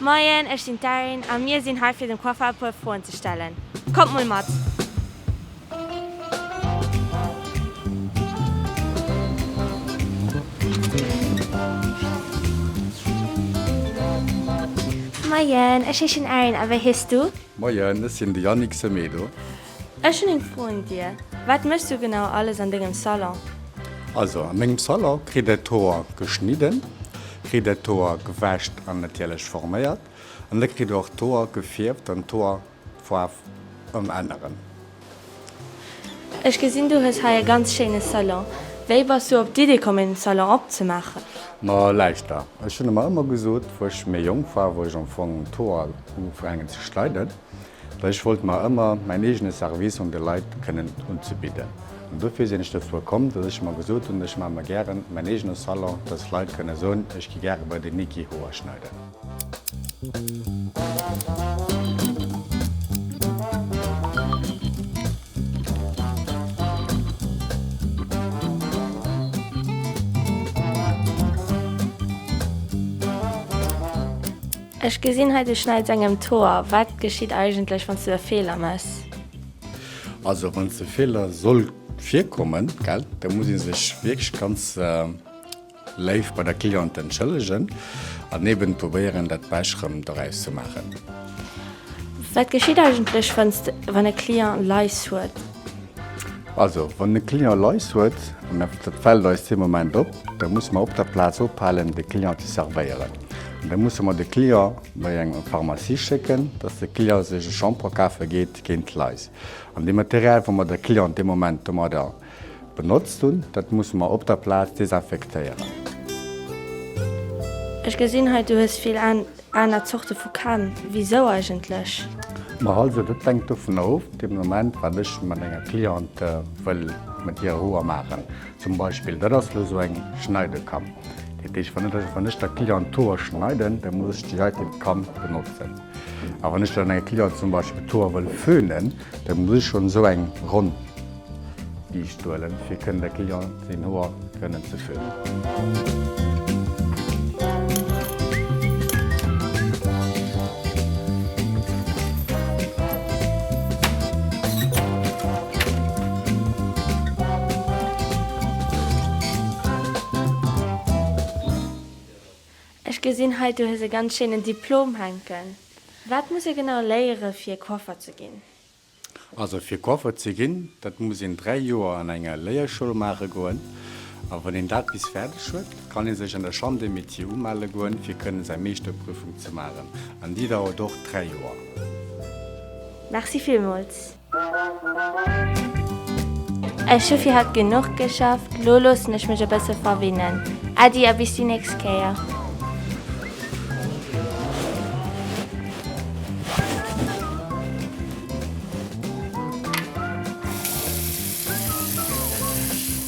Moien, ech sinn d'Erin a mir sinn hei fir dem Coiffeur e puer Froen ze stellen. Kommt mol mat! Moien, ech heeschen Erin a wéi hees du? Moien, ech sinn de Yannick Semedo. Ech hun eng Fro un dir, wat mechs du genau alles an dengem Salon? Also a mengem Salon kritt dat Hoer geschnidden, kritt dat Hoer gewäscht an natierlech forméiert an da kritt och d'Hoer gefierft an d'Hoerfaarf ëmänneren. Ech gesinn du hues hei e ganz schéine Salon, wéi bass du op d'Idee komm en Salon opzemaachen? Ma lauschter, ech hunn mer ëmmer gesot, wou ech méi jonk war, wou ech am Fong d'Hoer hu fänken ze schneiden, Well ech wollt mer ëmmer mäin eegene Service un de Leit kënnen unzebidden. An dofir sinn ech dozou komm, dass ech mer gesot hunn, ech maache mer gären mäin eegene Salon, dass Leit kënne soen, ech gi gäre bei den Niki Hoer schneiden. Ech gesinn hei du schneids engem d'Hoer. Wat geschitt eigentlech wanns du e Feeler mess? Also wann e Feeler soll virkommen gell, da muss ee sech wierklech ganz léif bei der Cliente entschëllegen an eben probéieren dat Besch rëm doraus ze maachen. Wat geschitt eigentlech wann e Client Lais huet? Also wann e Client Lais huet, an dat fällt eis dee Moment op, da musse mer op der Plaz ophalen de Cliente servéieren. Da musse mer de Client bei eng Pharmacie schécken, dass de Client sech e Shampoing kafe geet géint d'Lais. An dee Material, wat mer de Client dee Moment domadder benotzt hunn, dat musse mer op der Plaz desinfektéieren. Ech gesinn hei, du hues vill aner Zorte vu Kam. Wisou eigentlech? Ma also, dat hänkt dovun of, dee Moment, wat ech mat enger Cliente wëll mat hirer Hoer maachen. Zum Beispill, dat ass elo esou eng Schneidekam. Dat heescht, wann ech, wann ech der Cliente d'Hoer schneiden, da muss ech déi heite Kam benotzen. A wann ech dann enger Cliente zum Beispill d'Hoer wëll föhnen, da muss ech schonn esou eng ronn Biischt huelen, fir kënnen der Cliente seng Hoer kënnen ze föhnen. Ech gesinn hei, du hues e ganz schéinen Diplom hänken. Wat muss ee genau léiere fir Coiffer ze ginn? Also fir Coiffer ze ginn, dat muss een 3 Joer an enger Léierschoul maache goen. A wann een dat bis fäerdeg huet, kann ee sech an der Chambre des Métiers umelle goen, fir kënnen säi Meeschterprüfung ze maachen, an déi dauert och dräi Joer. Merci villmools. Ech hu fir haut genuch geschafft, lo loossen ech mech e bësse verwinnen. Äddi a bis déi nächst Kéier.